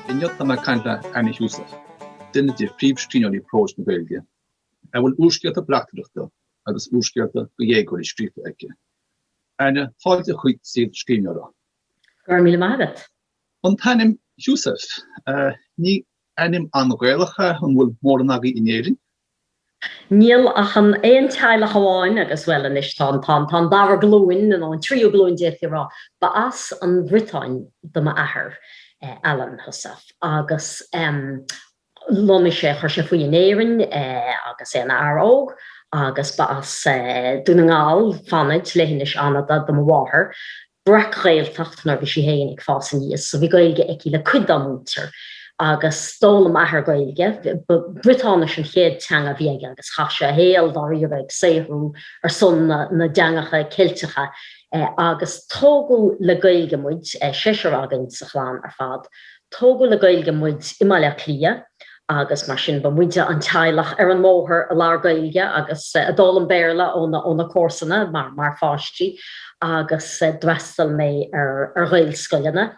Inniu tá mé ag caint le Anna Heussaff, duine de phríomhscríbhneoirí próis na Gaeilge, a bhfuil úrscéalta bleachtaireachta agus úrscéalta do dhéagóirí scríofa aici. Anna, fáilte chuig Saol Scríbhneora. Go raibh míle maith agat. An t-ainm Heussaff, ní ainm an-Ghaelach é, an bhfuil mórán agaibh in Éirinn? Níl ach an aon teaghlach amháin agus, bhuel, anois tá an, tá an, tá an dara glúin, nó an tríú glúin d'fhéadfaí a rá. Ba as an Bhriotáin do m'athair, Alan Heussaff, agus lonnaigh sé, chuir sé faoi in Éirinn agus é ina fhear óg agus ba as Dún na nGall, Fanaid, leithinis Fhanada, do mo mháthair. breac-Ghaeltacht nuair a bhí sí féin ag fás aníos so bhí Gaeilge aici le cuid dá muintir agus d'fhoghlaim m'athair Gaeilge, ba Briotáinis an chéad teanga a bhí aige agus chaith sé a shaol dáiríre ag saothrú ar son na dteangacha Ceilteacha agus tógadh le Gaeilge muid, seisear againn sa chlann ar fad, Tógadh le Gaeilge muid i mBaile Átha Cliath agus mar sin ba muide an teaghlach ar an mbóthar a labhair Gaeilge agus a d'fhoghlaim Béarla ó na comharsana mar pháistí agus d'fhreastail mé ar Ghaelscoileanna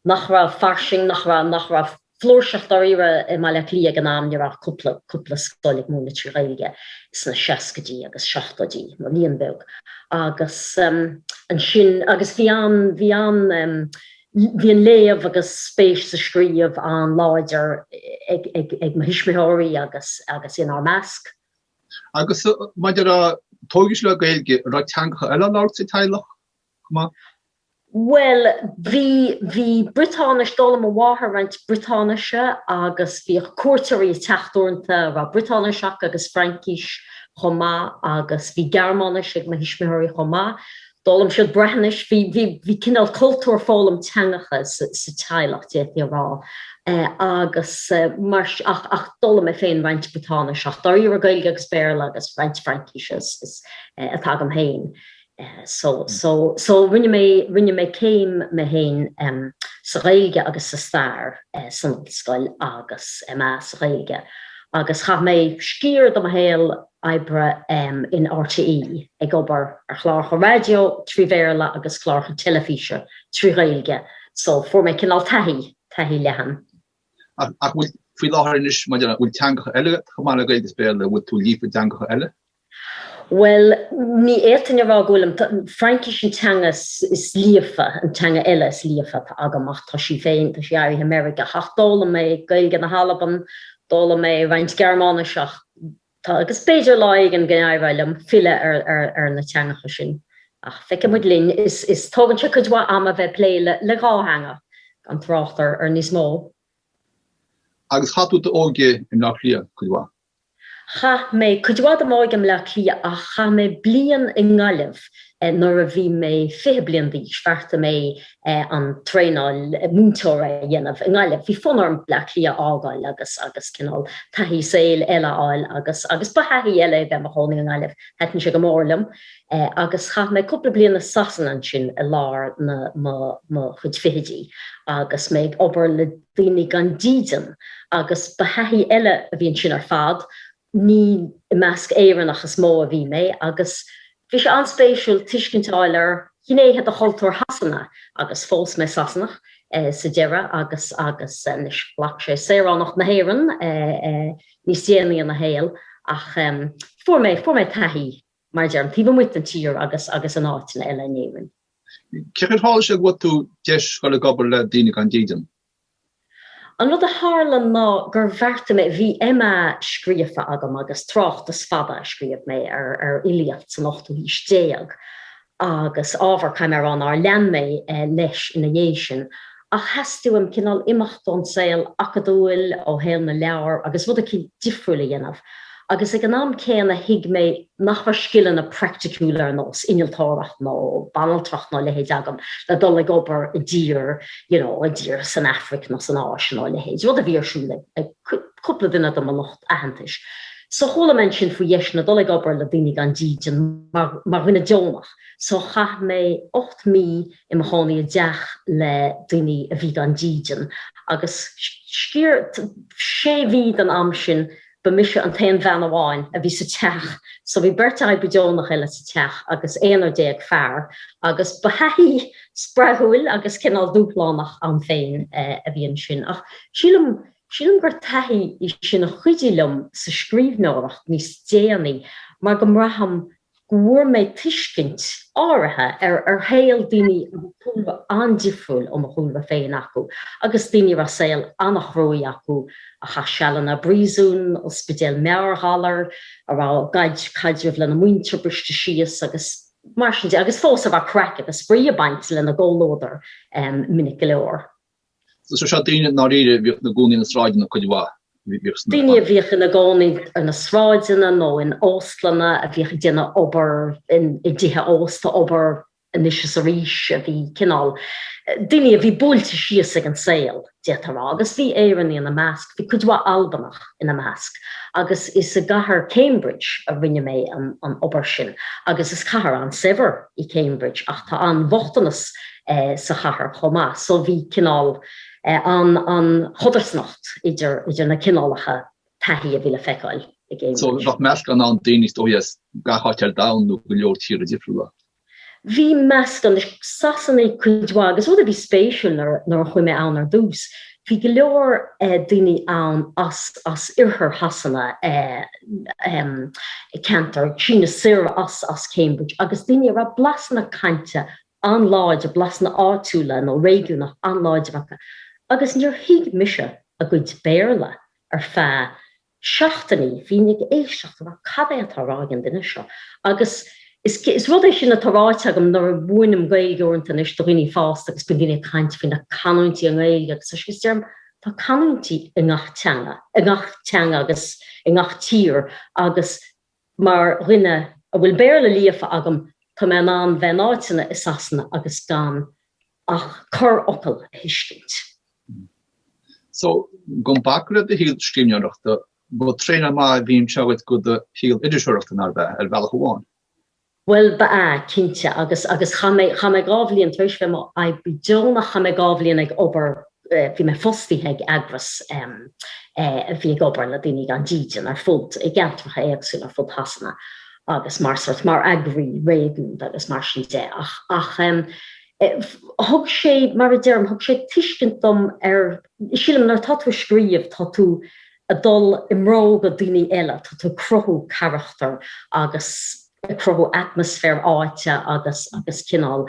nach raibh fairsing, nach raibh, nach raibh flúirseach dáiríre i mBaile Átha Cliath ag an am, ní raibh ach cúpla, cúpla scoil ag múineadh trí Ghaeilge sna seascaidí agus seachtóidí, nó líon beag agus ansin, agus bhí an, bhí an. Bhí an léamh agus spéis sa scríobh an-láidir ag mo thuismitheoirí agus inár measc. Agus maidir le, tógadh sibh le Gaeilge, an raibh teangacha eile á labhairt sa teaghlach chomh maith? Bhuel, bhí, bhí Briotáinis, d'fhoghlaim mo mháthair roinnt Briotáinise agus bhíodh cuairteoirí ag teacht uaireanta a raibh Briotáinis acu agus Fraincis chomh maith agus bhí Gearmáinis ag mo thuismitheoirí chomh maith. D'fhoghlaim siad Breathnais, bhí cineál cultúr foghlaim teangacha sa teaghlach, d'fhéadfaí a rá, agus mar sin, ach d'fhoghlaim mé féin roinnt Briotáinis, ach dáiríre Gaeilge agus Béarla agus roinnt Fraincise atá agam féin. So, so, so rinne mé, rinne mé céim mé féin sa Ghaeilge agus sa Stair san ollscoil agus MA sa Ghaeilge agus chaith mé sciar de mo shaol oibre in RTÉ ag obair ar chláracha raidió trí Bhéarla agus cláracha teilifíse trí Ghaeilge so fuair mé cineál taithí, taithí leathan. Ach an bhfuil, faoi láthair anois, maidir le, bhfuil teangacha eile chomh maith le Gaeilge is Béarla, bhfuil tú líofa i dteangacha eile? Bhuel, ní fhéadfainn a rá go bhfuilim. Fraincis an teanga is líofa, an teanga eile is líofa atá agam ach tá sí féin, tá sí éirithe meirgeach. Ach d'fhoghlaim mé Gaeilge na hAlban, d'fhoghlaim mé roinnt Gearmáinis ach. Tá, agus b'fhéidir lá éigin go n-éireoidh liom filleadh ar na teangacha sin, ach feicfidh muid linn. Is tógann sé cuid mhaith ama bheith ag plé le dhá theanga, gan trácht ar níos mó. Agus chaith tú d'óige i mBleá Cliath, cuid mhaith? Chaith mé cuid mhaith de m'óige i mBleá Cliath, ach chaith mé bliain i nGaillimh. Nuair a bhí mé fiche bliain d'aois, bheartaigh mé an traenáil múinteora a dhéanamh i nGaillimh. Bhí fonn orm Bleá Cliath a fhágáil agus agus cineál taithí saoil eile a fháil agus agus ba thaithí eile é bheith i mo chónaí i nGaillimh, thaitin sé go mór liom. Agus chaith mé cúpla bliain i Sasana ansin i lár na mo mo chuid fichidí agus mé ag obair le daoine gan dídean agus ba thaithí eile a bhí ansin ar fad Ní i measc Éireannach is mó a bhí mé agus bhí sé an-spéisiúil tuiscint a fháil ar ghnéithe de chultúr Shasana agus phós mé Sasanach sa deireadh agus agus anois ghlac sé saoránacht na hÉireann níos déanaí ina shaol ach fuair mé fuair mé taithí mar a deirim taobh amuigh den tír agus agus in áiteanna eile in Éirinn. Cén chaoi ar tharla sé go bhfuair tú deis dul ag obair le daoine gan dídean, An rud a tharla ná gur bheartaigh mé, bhí MA scríofa agam agus tráchtas fada a scríobh mé ar fhilíocht san ochtú haois déag agus ábhar Caiméarán nár lean mé leis ina dhiaidh sin, ach theastaigh uaim cineál imeacht ón saol acadúil, ó shaol na leabhar agus rud eicínt difriúil a dhéanamh agus ag an am céanna thuig mé nach raibh scileanna praiticiúla ar nós innealtóireacht nó banaltracht nó a leithéid agam le dul ag obair i dtír you know i dtír san Afraic nó san Áise nó a leithéid, rud a bhí ar siúl ag ag cúpla duine de mo lucht aitheantais. So chuala mé ansin faoi dheiseanna dul ag obair le daoine gan dídean mar mar dhuine deonach. So chaith mé ocht mí i mo chónaí i dteach le daoine a bhí gan dídean agus ar sé mhí den am sin, ba mise an t-aon bhean amháin a bhí sa teach so bhí beirt oibrí deonach eile sa teach agus aonar déag fear agus ba thaithí spreagúil agus cineál dúshlánach ann féin a bhí ansin ach sílim sílim gur taithí í sin a chuidigh liom sa scríbhneoireacht níos déanaí mar go mbraithim go bhfuair mé tuiscint áirithe ar ar shaol daoine a raibh cúlra an-difriúil ó mo chúlra féin acu agus daoine a raibh saol an-chruaidh acu, a chaith sealanna i bpríosún, ospidéil meabhairghalair, a raibh a gcuid caidreamh lena muintir briste síos agus mar sin de, agus fós a raibh craic agus spraoi ag baint lena gcomhluadar minic go leor. So seo daoine i ndáiríre bhíodh ina gcónaí ar na sráideanna cuid mhaith, bhíodh sna. Daoine a bhíodh ina gcónaí ar na sráideanna nó in óstlanna, a bhíodh ag déanamh obair i dtithe ósta, ag obair anois is arís, a bhí cineál. daoine a bhí buailte síos ag an saol, d'fhéadfá a rá, agus bhí Éireannaigh ina measc, bhí cuid mhaith Albanach ina measc agus is i gcathair Cambridge a rinne mé an obair sin agus is cathair an-saibhir í Cambridge ach tá an-bhochtanas sa chathair chomh maith. So bhí cineál an an chodarsnacht idir idir na cineálacha taithí a bhí le feiceáil i gCambridge. So bheadh meascán ann daoine is dóigh as gach áit ar domhan nó go leor tíortha difriúla. Bhí meascán. Sasanaigh cuid mhaith agus rud a bhí spéisiúil nuair a nuair a chuaigh mé ann ar dtús, bhí go leor eh daoine ann as as oirthear Shasana eh em ceantar ag síneadh soir as as Cambridge agus daoine a raibh blasanna cainte an-láidir, blasanna áitiúla nó réigiúnach an-láidir acu agus níor thuig mise a gcuid Béarla ar feadh seachtainí, bhínn ag éisteacht a rá 'cad é atá á rá ag an duine seo? agus is rud é sin atá ráite agam nuair a mhúinim Gaeilge uaireanta anois do dhaoine fásta agus bíonn daoine ag caint faoi na canúintí i nGaeilge agus is deirim 'tá canúintí i ngach teanga, i ngach teanga agus i ngach tír agus Mar dhuine a bhfuil Béarla líofa agam, tá mé in ann bheith in áiteanna i Sasana agus gan ach corrfhocal a thuiscint. Mm. So, gan bacadh le do shaol scríbhneoireachta, ba traenáil mhaith a bhí anseo agat go do shaol iriseoireachta, nár bhea, ar bhealach amháin? Bhuel, ba ea, cinnte, agus, agus chaith mé, chaith mé dhá bhliain, tar éis bheith i m'oibrí deonach, chaith mé dhá bhliain ag obair, bhí mé fostaithe ag eagras a bhí ag obair le daoine gan dídean ar fud, i gceantracha éagsúla ar fud Shasana agus mar sort, mar eagraí réigiúnda agus mar sin de ach, ach eh, thug sé, mar a deirim, thug sé tuiscint dom ar, sílim nuair atá tú ag scríobh, tá tú, ag dul i mbróga daoine eile, tá tú ag cruthú carachtar agus ag cruthú atmaisféar áite agus agus cineál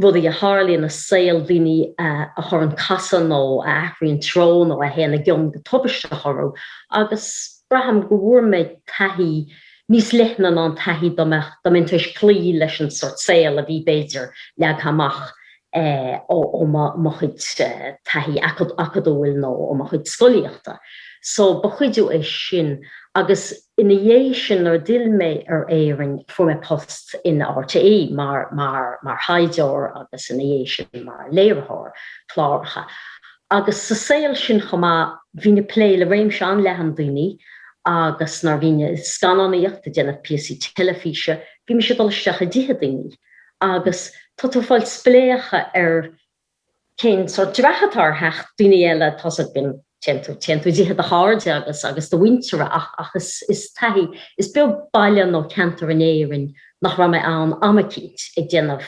rudaí a tharlaíonn i saol daoine a chuireann casadh nó a athraíonn treo nó a théann i gcion go tubaisteach orthu agus braithim go bhfuair mé taithí níos leithne ná an taithí dá mbeadh, dá mbeinn tar éis cloí leis an sort saol a bhí, b'fhéidir, leagtha amach ó mo chuid taithí acadúil nó ó mo chuid scolaíochta. So, ba chuidiú é sin. Agus ina dhiaidh sin, nuair a d'fhill mé ar Éirinn, fuair mé post in RTÉ mar thaighdeoir agus ina dhiaidh sin mar léiritheoir cláracha. Agus sa saol sin chomh maith, bhínn ag plé le réimse an-leathan daoine agus nuair a bhínn ag scannánaíocht, ag déanamh píosaí teilifíse, bhí mise ag dul isteach i dtithe daoine agus tá tú ag fáil spléachadh ar cén sórt dreach atá ar theach daoine eile, atá siad, bíonn, téann tú, téann tú i dtithe do chairde agus, agus do mhuintire ach, ach is, is taithí, is beag baile nó ceantar in Éirinn nach raibh mé ann am eicínt ag déanamh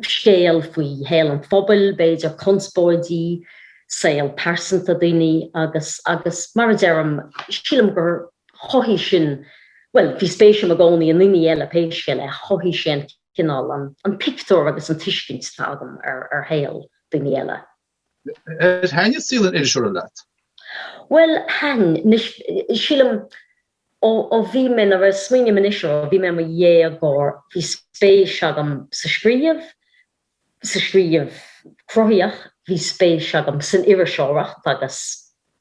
scéal faoi shaol an phobail, b'fhéidir, conspóidí, saol pearsanta daoine agus, agus mar a deirim, sílim gur. chothaigh sin, bhuel, bhí spéis agam i gcónaí i ndaoine eile pé scéal é, ach chothaigh sé an cineál, an pictiúr agus an tuiscint atá agam ar shaol daoine eile. Ar thaitin saol an iriseora leat? Bhuel, thaitin. Anois, sílim, ó bhí mé, nuair a smaoiním anois air, ó bhí mé i mo dhéagóir, bhí spéis agam sa scríobh, sa scríobh cruthaíoch. Bhí spéis agam san iriseoireacht agus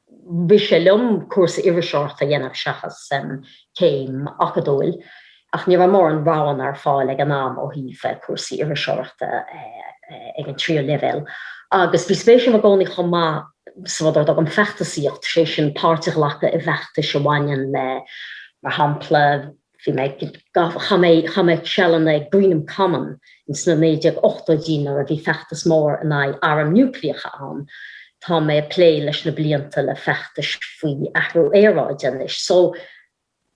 bhí sé liom cúrsa iriseoireachta a dhéanamh seachas céim acadúil ach ní raibh mórán roghanna ar fáil ag an am ó thaobh cúrsaí iriseoireachta ag an tríú leibhéal agus bhí spéis agam i gcónaí chomh maith sa rud ar a dtugaim 'feachtasaíocht', sé sin páirt a ghlacadh i bhfeachtais a bhaineann le, mar shampla. Bhí mé ag, chaith mé, chaith mé sealanna ag Greenham Common ins na 1980idí nuair a bhí feachtas mór in aghaidh airm niúcleacha ann. Tá mé ag plé leis na blianta le feachtais faoi athrú aeráide anois. So,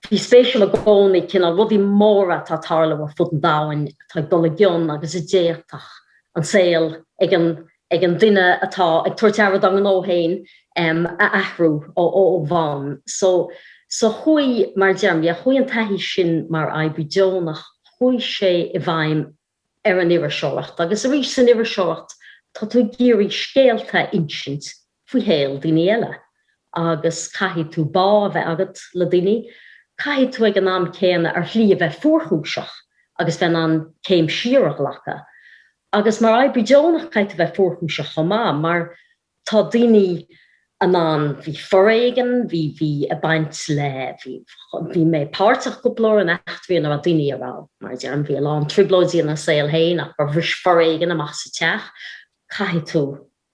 bhí spéis agam i gcónaí, cineál, rudaí móra atá ag tarlú ar fud an domhain atá ag dul i gcion agus a d'fhéadfadh an saol ag an ag an duine atá ag tabhairt aire dá ngnó féin a athrú ó bhonn. So so chuaigh, mar a deirim, yeah chuaigh an taithí sin mar oibrí deonach, chuaigh sé i bhfeidhm ar an iriseoireacht agus arís san iriseoireacht tá tú ag iarraidh scéalta a insint faoi shaol daoine eile agus caithfidh tú bá a bheith agat le daoine, caithfidh tú ag an am céanna ar shlí a bheith fuarchúiseach agus bheith in ann céim siar a ghlacadh. Agus mar oibrí deonach caithfidh tú bheith fuarchúiseach chomh maith mar tá daoine in ann, bhí foréigean, bhí, bhí ag baint le, bhí, bhí mé páirteach go leor in eachtraí ina raibh daoine a raibh, mar a deirim, bhí a lán trioblóidí ina saol féin ach gur bhris foréigean amach sa teach, caithfidh tú.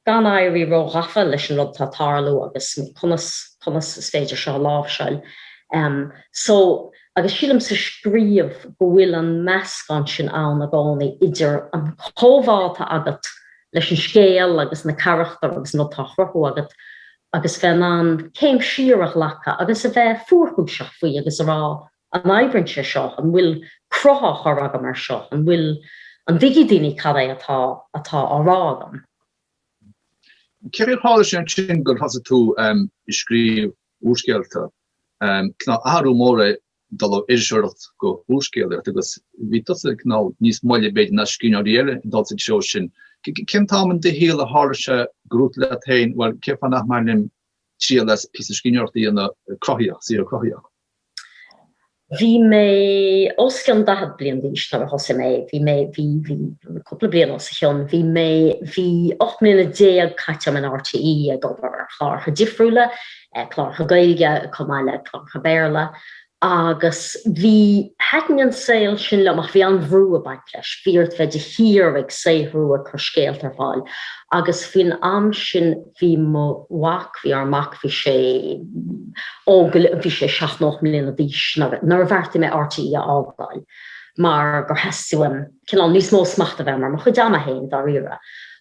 gan éirí ró-ghafa leis an rud atá ag tarlú agus conas, conas is féidir seo a láimhseáil. So, agus sílim sa scríobh go bhfuil an meascán sin ann i gcónaí idir an comhbhá atá agat leis an scéal agus na carachtair agus an rud atá á chruthú agat agus bheith in ann céim siar a ghlacadh agus a bheith fuarchúiseach faoi agus a rá An oibríonn sé seo? An bhfuil cruth á chur agam air seo? An bhfuil, an dtuigfidh daoine cad é atá, atá á rá agam? Cén chaoi a tharla sé ansin gur thosaigh tú ehm, ag scríobh úrscéalta? Ehm, tá a fhios agat athrú mór é dul ó iriseoireacht go húrscéalaíocht agus bhí tusa tá a fhios agat níos moille b'fhéidir ná scríbhneoirí eile ag dul sa treo sin. Cén t-am in do shaol a tharla sé go raibh tú leat féin, bhuel cén fáth nach mbainim triail as píosa scríbhneoireachta a dhéanamh cruthaíoch, saothar cruthaíoch? Bhí mé os cionn daichead bliain d'aois nuair a thosaigh mé, bhí mé, bhí, bhí cúpla bliain os a cionn, bhí mé, bhí ocht mbliana déag caite agam in RTÉ ag obair ar chlártha difriúla, clártha Gaeilge chomh maith le clártha Béarla agus bhí, thaitin an saol sin liom ach bhí an-bhrú ag baint leis, bhí ort bheith de shíor ag saothrú, ag cur scéalta ar fáil agus faoin am sin, bhí mo mhac, bhí ár mac, bhí sé óg, bhí sé seacht nó ocht mbliana d'aois nuair a bheartaigh mé RTÉ a fhágáil mar gur theastaigh uaim cineál níos mó smachta a bheith agam ar mo chuid ama féin, dáiríre.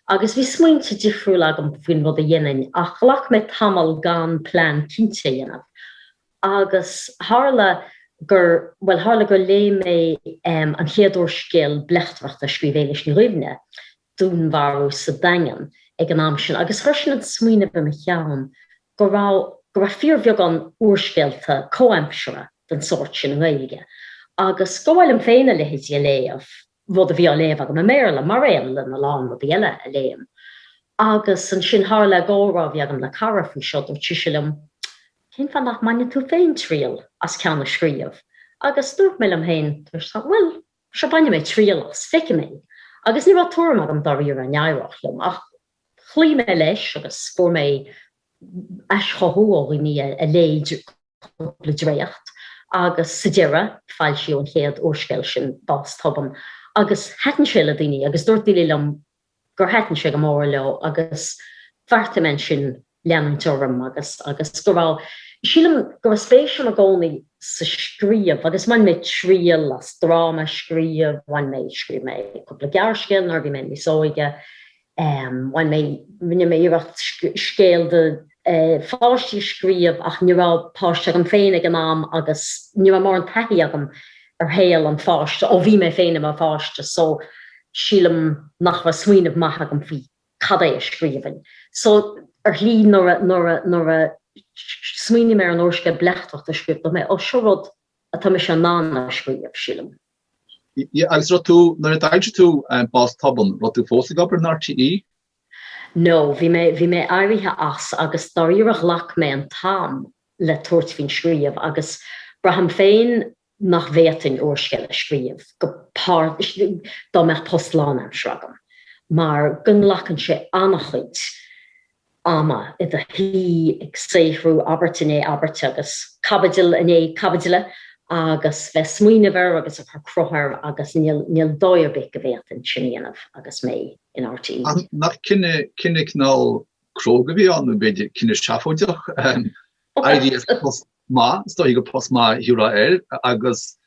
Agus bhí smaointe difriúla agam faoin rud a dhéanfainn ach ghlac mé tamall gan plean cinnte a dhéanamh. Agus tharla gur, bhuel, tharla gur léigh mé an chéad úrscéal bleachtaireachta a scríobh Éilis Ní Dhuibhne, Dúnmharú sa Daingean ag an am sin agus chuir sin an smaoineamh i mo cheann go raibh go raibh fíorbheagán úrscéalta comhaimseartha den sórt sin i nGaeilge agus gur mhaith liom féin a leithéid a léamh, rud a bhí á léamh agam i mBéarla, mar aon lena lán rudaí eile a léim. Agus ansin, tharla i gcomhrá a bhí agam le cara faoi seo, dúirt sise liom, 'Cén fáth nach mbaineann tú féin triail as ceann a scríobh? Agus dúirt mé liom féin, 'Bhuel, Sea, bainfidh mé triail as, feicfidh mé, agus ní raibh tuairim agam dáiríre an éireodh liom, ach chloígh mé leis agus fuair mé aischothú ó dhaoine a léigh cúpla dréacht agus sa deireadh foilsíodh an chéad úrscéal sin, Bás Tobann, agus thaitin sé le daoine agus dúirt daoine liom gur thaitin sé go mór leo agus bheartaigh mé ansin leanúint orm agus agus go raibh, sílim go raibh spéis agam i gcónaí sa scríobh agus bhain mé triail as dráma a scríobh, bhain mé, scríobh mé cúpla gearrscéal nuair a bhí mé níos óige, bhain mé, rinne mé iarracht scéal do pháistí a scríobh ach ní raibh páiste agam féin ag an am agus ní raibh mórán taithí agam ar shaol an pháiste ó bhí mé féin i mo pháiste so sílim nach raibh smaoineamh maith agam faoi cad é a scríobhainn so ar shlí nuair a nuair a nuair a smaoinigh mé ar an úrscéal bleachtaireachta a scríobh dúirt mé ó seo rud atá mise in ann a scríobh sílim. Yeah agus raibh tú, nuair a d'aimsigh tú Bás Tobann, raibh tú fós ag obair in RTÉ? No, bhí mé, bhí mé éirithe as agus dáiríre ghlac mé an t-am le tabhairt faoin scríobh agus braithim féin nach bhféadfainn úrscéal a scríobh, go páirt, dá mbeadh post lánaimseartha agam mar go nglacann sé ana-chuid ama i do shuí ag saothrú abairt i ndiaidh abairte agus caibidil i ndiaidh caibidile agus bheith ag smaoineamh air agus ag cur cruth air agus níl, níl dóigh ar bith go bhféadfainn sin a dhéanamh agus mé i. in RTÉ. Ach nach cinneadh cineál cróga a bhí ann, nó b'fhéidir cinneadh seafóideach. Éirí as post maith, is dóichí gur post maith a thabharfá air, agus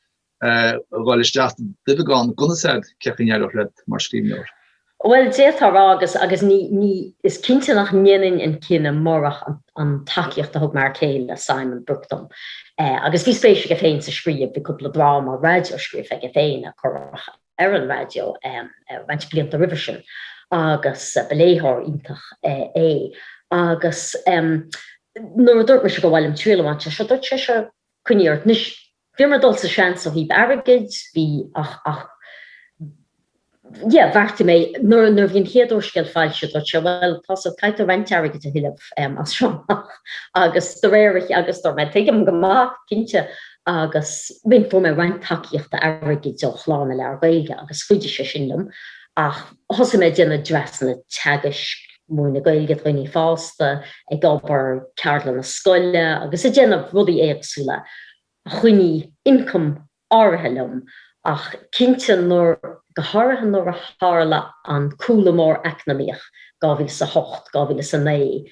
dhul isteach i nduibheagán gan fhios agat, cé acu an n-éireodh leat mar scríbhneoir? Bhuel, d'fhéadfá a rá, agus, agus ní, ní, is cinnte nach ndéanfainn an cinneadh murach an, an tacaíocht a thug m'fhear céile, Simon Brooke, dom. Eh, agus bhí spéis aige féin sa scríobh, bhí cúpla dráma raidió scríofa aige féin, a craoladh ar an raidió roinnt blianta roimhe sin agus ba léitheoir iontach é agus nuair a dúirt mise gur mhaith liom triail a bhaint as seo, dúirt sé sure, coinnigh ort. Anois, bhí mé ag dul sa seans ó thaobh airgid, bhí ach, ach yeah, bheartaigh mé, nuair, nuair a bhí an chéad úrscéal foilsithe, dúirt sé bhuel, tá so caithfidh tú roinnt airgid a thuilleamh as seo amach agus de réir a, agus dúirt mé tuigim go maith, cinnte, agus fuair mé roinnt tacaíochta airgid ó Chlár na Leabhar Gaeilge agus chuidigh sé sin liom ach thosaigh mé ag déanamh dreasanna teagaisc, múineadh Gaeilge do dhaoine fásta, ag obair ceardlanna scoile agus ag déanamh rudaí éagsúla a choinnigh ioncam áirithe liom Ach cinnte, nuair, go háirithe nuair a tharla an cúlú mór eacnamaíoch, 2008, 2009,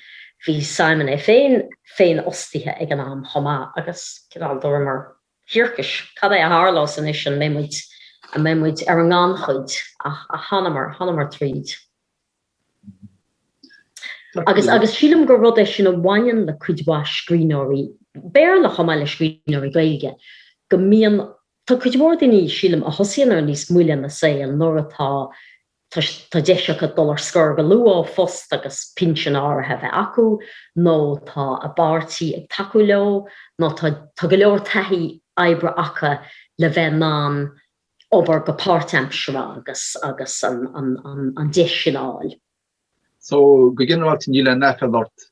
bhí Simon é féin féinfhostaithe ag an am chomh maith agus, cineál, dúramar, thiarcais, cad é a tharlós anois, an mbeidh muid, an mbeidh muid ar an ngannchuid? Ach, ach, thánamar, thánamar tríd. Agus agus sílim gur rud é sin a bhaineann le cuid mhaith scríbhneoirí Béarla chomh maith le scríbhneoirí Gaeilge, go mbíonn, tá cuid mhór daoine, sílim, a thosaíonn air níos moille ina saol nuair atá, tá deis acu dul ar scor go luath ó phost agus pinsean áirithe a bheith acu, nó tá a bpáirtí ag tacú leo, nó tá go leor taithí oibre acu le bheith in ann obair go páirtaimseartha agus agus an deis sin a fháil. So, go ginearálta níl aon aiféala ort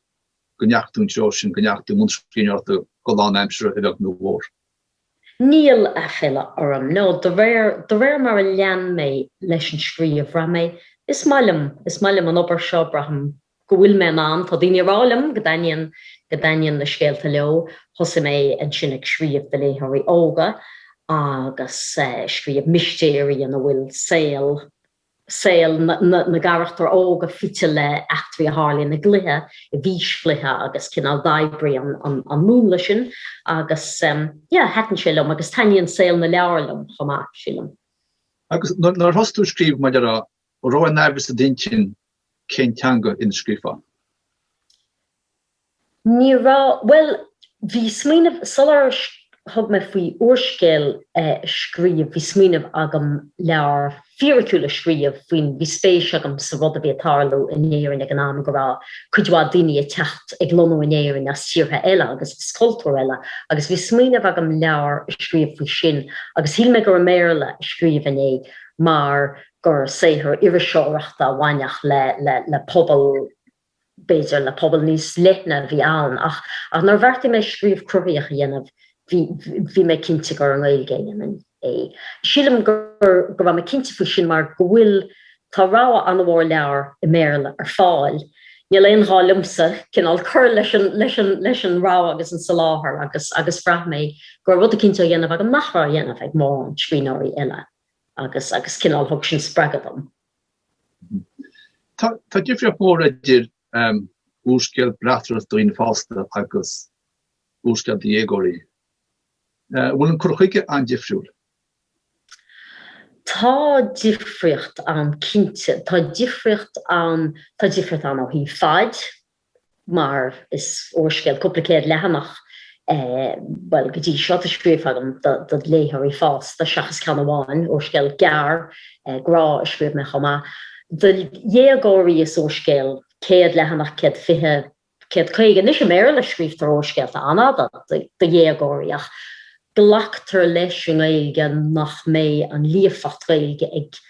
go ndeachaigh tú an treo sin, go ndeachaigh tú i mbun scríbhneoireachta go lánaimseartha, a bheag nó a mhór? Níl aiféala orm. No, de réir, de réir mar a lean mé leis an scríobh, bhraith mé, is maith liom, is maith liom an obair seo, braithim, go bhfuil mé in ann, tá daoine ag rá liom go dtaitníonn, go dtaitníonn na scéalta leo, thosaigh mé ansin ag scríobh do léitheoirí óga agus scríobh mistéirí ina bhfuil saol, saol na gcarachtar óga fite le eachtraí a tharlaíonn i gcluiche, i bhfíschluiche agus cineál d'oibrigh an múnla sin agus yeah, thaitin sé liom agus taitníonn saol na leabhar liom chomh maith, sílim. Agus nár thosaigh tú ag scríobh maidir le raibh aon amhras i d'intinn cén teanga ina scríofá? Ní raibh, bhuel, bhí smaoineamh, sular thug mé faoi úrscéal a scríobh, bhí smaoineamh agam leabhar fíriciúil a scríobh faoin, bhí spéis agam sa rud a bhí ag tarlú in Éirinn ag an am, go raibh cuid mhaith daoine ag teacht, ag lonnú in Éirinn as tíortha eile agus as cultúir eile agus bhí smaoineamh agam leabhar a scríobh faoi sin agus shíl mé gur i mBéarla a scríobhfainn é mar gur saothar iriseoireachta a bhainfeadh le pobal, b'fhéidir le pobal níos leithne, a bhí ann ach nuair a bheartaigh mé scríobh cruthaitheach a dhéanamh, bhí mé cinnte gur i nGaeilge a dhéanfainn é. Sílim go raibh mé cinnte faoi sin mar go bhfuil, tá rogha an-mhór leabhar i mBéarla ar fáil, níl aon ghá liomsa cineál cur leis an rogha agus an soláthar agus bhraith mé go raibh rud eicínt á dhéanamh agam nach raibh á dhéanamh ag mórán scríbhneoirí eile. agus cineál thug sin spreagadh dom. Tá difríocht mhór idir úrscéal bleachtaireachta do dhaoine fásta agus úrscéal do dhéagóirí. An bhfuil an cur chuige an-difriúil? Tá difríocht ann cinnte. Tá difríocht ann, tá difríocht ann ó thaobh faid, mar is úrscéal cúpla céad leathanach é, bhuel, go dtí seo, atá scríofa agam do léitheoirí fásta, seachas ceann amháin, úrscéal gearr grá a scríobh mé chomh maith do dhéagóirí, is úrscéal céad leathanach, céad fiche, céad caoga anois, i mBéarla, scríobhtar úrscéalta an-fhada do dhéagóirí ach glactar leis i nGaeilge nach mbeidh an líofacht Gaeilge ag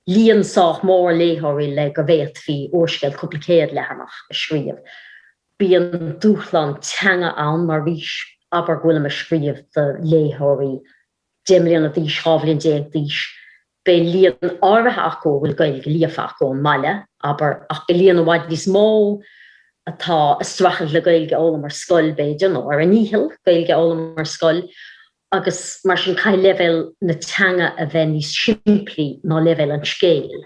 líon sách mór léitheoirí le go bhféadfaí úrscéal cúpla céad leathanach a scríobh. Bíonn dúshlán teanga ann, mar arís, abair go bhfuilim ag scríobh do léitheoirí deich mbliana d'aois, dhá bhliain déag d'aois. Beidh líon áirithe acu a bhfuil Gaeilge líofa acu ón mbaile, abair, ach beidh líon i bhfad níos mó atá ag streachailt le Gaeilge a fhoghlaim ar scoil, b'fhéidir, nó ar a ndícheall Gaeilge a fhoghlaim ar scoil. agus mar sin caithfidh leibhéal na teanga a bheith níos simplí ná leibhéal an scéil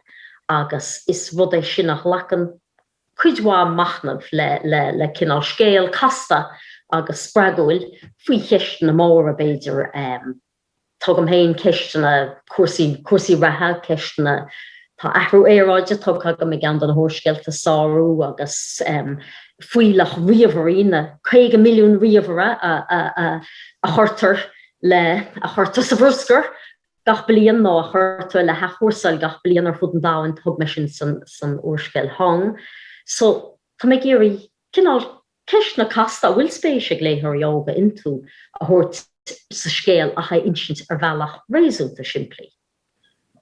agus is rud é sin a ghlacann cuid mhaith machnaimh le cineál scéal casta agus spreagúil faoi cheisteanna móra, b'fhéidir. Tugaim féin ceisteanna cúrsaí reatha, ceisteanna Tá athrú aeráide tugtha agam i gceann de na húrscéalta, Sárú, agus fuílleach ríomhairí, na 50 milliún ríomhaire a chuirtear le, a chuirtear sa bhruscar gach bliain nó a chuirtear le hathchúrsáil gach bliain ar fud an domhain, thug mé sin san úrscéal Hóng. So, tá mé ag iarraidh cineál ceisteanna casta a bhfuil spéis ag léitheoirí óga iontu a thabhairt sa scéal ach é a insint ar bhealach réasúnta simplí.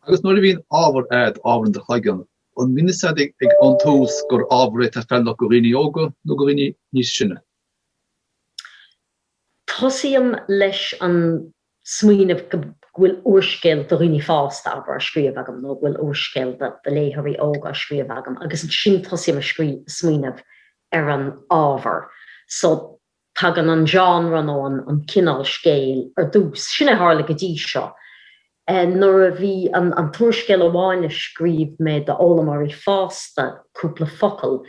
Agus nuair a bhíonn ábhar a'd, abair, i do chloigeann, an mbíonn 'fhios a'd ag an tús gur ábhar é atá feiliúnach go dhaoine óga nó go dhaoine níos sine? Tosaím leis an smaoineamh go bhfuil úrscéal do dhaoine fásta, abair, á scríobh agam nó go bhfuil úrscéal do léitheoirí óga á scríobh agam agus ansin tosaím a' smaoineamh ar an ábhar. So. Tagann an genre nó an cineál scéil ar dtús, sin é a tharla go dtí seo. Nuair a bhí an t-úrscéal amháin a scríobh mé d'fhoghlaimeoirí fásta, Cúpla Focal,